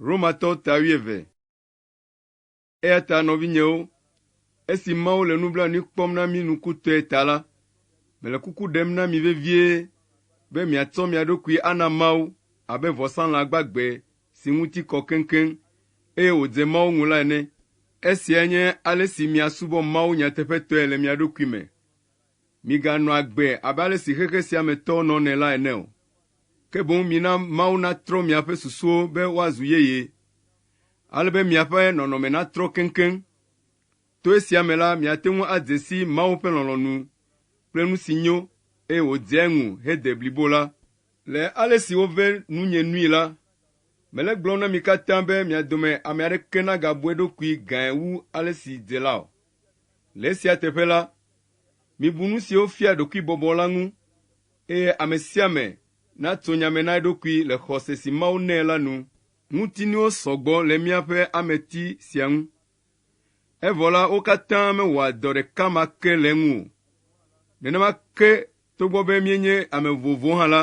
Romatɔ ta wuieve. Eya ta nɔvinyewo, esi Mawu le nublanui kpɔm na mí nukutɔe ta la, mele kuku ɖem na mi vevie be miatsɔ mia ɖokui ana Mawu abe vɔsalã gbagbe si ŋuti kɔ keŋkeŋ, eye wòdze Mawu ŋu la ene. Esiae nye ale si miasubɔ Mawu nyateƒetɔe le mia ɖokui me. Miganɔ agbe abe ale si xexe sia me tɔwo nɔnɛ la ene o, ke boŋ mina Mawu natrɔ miaƒe susuwo be woazu yeye, ale be miaƒe nɔnɔme natrɔ keŋkeŋ. To esia me la, miate ŋu adze si Mawu ƒe lɔlɔ̃nu kple nu si nyo, eye wòdzea eŋu hede blibo la. Le ale si wove nunye nui la, mele gblɔm na mi katã be mia dome ame aɖeke nagabu eɖokui gãe wu ale si dze la o. Le esia teƒe la, mibu nu siwo fia ɖokuibɔbɔ la ŋu, eye ame sia ame natso nya me na eɖokui le xɔse si Mawu nɛ la nu. Ŋutinuwo sɔ gbɔ le míaƒe ameti sia ŋu, evɔ la, wo katã mewɔa dɔ ɖeka ma ke le eŋu o. Nenema ke togbɔ be míenye ame vovovowo hã la,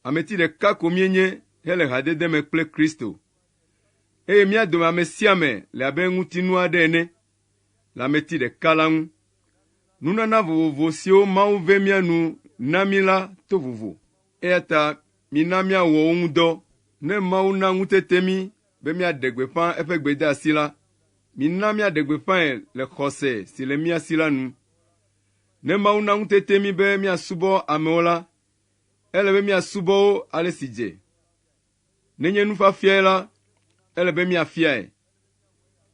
ameti ɖeka ko míenye hele hadede me kple Kristo. Eye mía dome ame sia ame le abe ŋutinu aɖe ene le ameti ɖeka la ŋu. Nunana vovovo siwo Mawu vɛ mía nu na mí la to vovo, eya ta mina míawɔ wo ŋu dɔ. Ne Mawu na ŋutete mí be míaɖe gbeƒã eƒe gbedeasi la, mina míaɖe gbeƒãe le xɔse si le mía si la nu. Ne Mawu na ŋutete mí be míasubɔ amewo la, ele be míasubɔ wo ale si dze. Nenye nufiafiae la, ele be miafiae.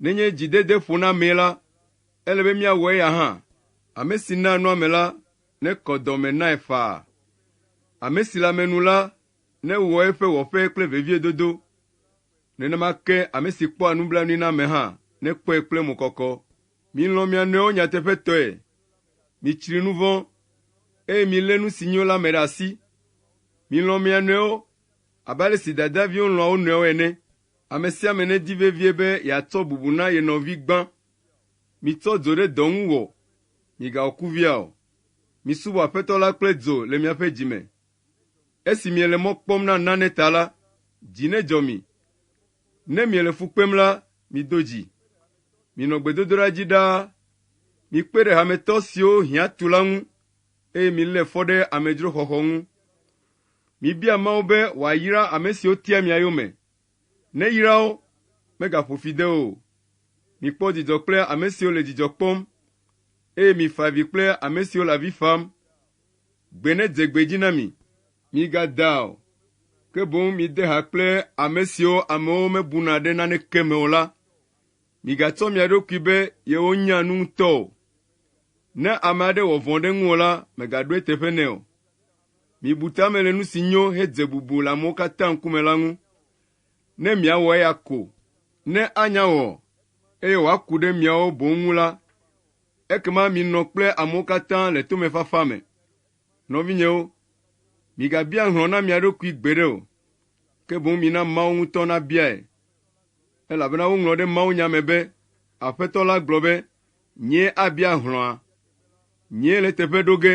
Nenye dzidede ƒona amee la, ele be miawɔ eya hã. Ame si naa nu ame la, nekɔ dɔ me nae faa. Ame si le ame nu la, newɔ eƒe wɔƒe kple veviedodo. Nenema ke ame si kpɔa nublanui na ame hã, nekpɔe kple mɔkɔkɔ. Milɔ̃ mia nɔewo nyateƒetɔe. Mitsri nu vɔ̃, eye milé nu si nyo la me ɖe asi. Milɔ̃ mia nɔewo Abe ale si dadaviwo lɔ̃a wo nɔewo ene, ame sia ame nedi vevie be yeatsɔ bubu na ye nɔvi gbã. Mitsɔ dzo ɖe dɔ ŋu wɔ, migawɔ kuvia o. Misubɔ Aƒetɔ la kple dzo le miaƒe dzi me. Esi miele mɔ kpɔm na nane ta la, dzi nedzɔ mi. Ne miele fu kpem la, mido dzi. Minɔ gbedodoɖa dzi ɖaa. Mikpe ɖe hametɔ siwo hiã tu la ŋu, eye milé fɔ ɖe amedzroxɔxɔ ŋu. Mibia Mawu be wòayra ame siwo tia mia yome. Neyra wo, megaƒo fi de wo o. Mikpɔ dzidzɔ kple ame siwo le dzidzɔ kpɔm, eye mifa avi kple ame siwo le avi fam. Gbe nedze gbe dzi na mi. Migadaa o, ke boŋ mide ha kple ame siwo amewo mebuna ɖe naneke me o la. Migatsɔ mia ɖokui be yewonya nu ŋutɔ o. Ne ame aɖe wɔ vɔ̃ ɖe ŋuwò la, mègaɖo eteƒe nɛ o. Mibu ta me le nu si nyo hedze bubu le amewo katã ŋkume la ŋu. Ne miawɔ eya ko, ne anya wɔ, eye wòaku ɖe miawo boŋ ŋu la, ekema minɔ kple amewo katã le tomefafa me. Nɔvinyewo, migabia hlɔ̃ na mia ɖokui gbeɖe o, ke boŋ mina Mawu ŋutɔ nabiae. Elabena woŋlɔ ɖe mawunya me be, Aƒetɔ la gblɔ be, Nyee abia hlɔ̃a. Nyee le teƒe ɖo ge.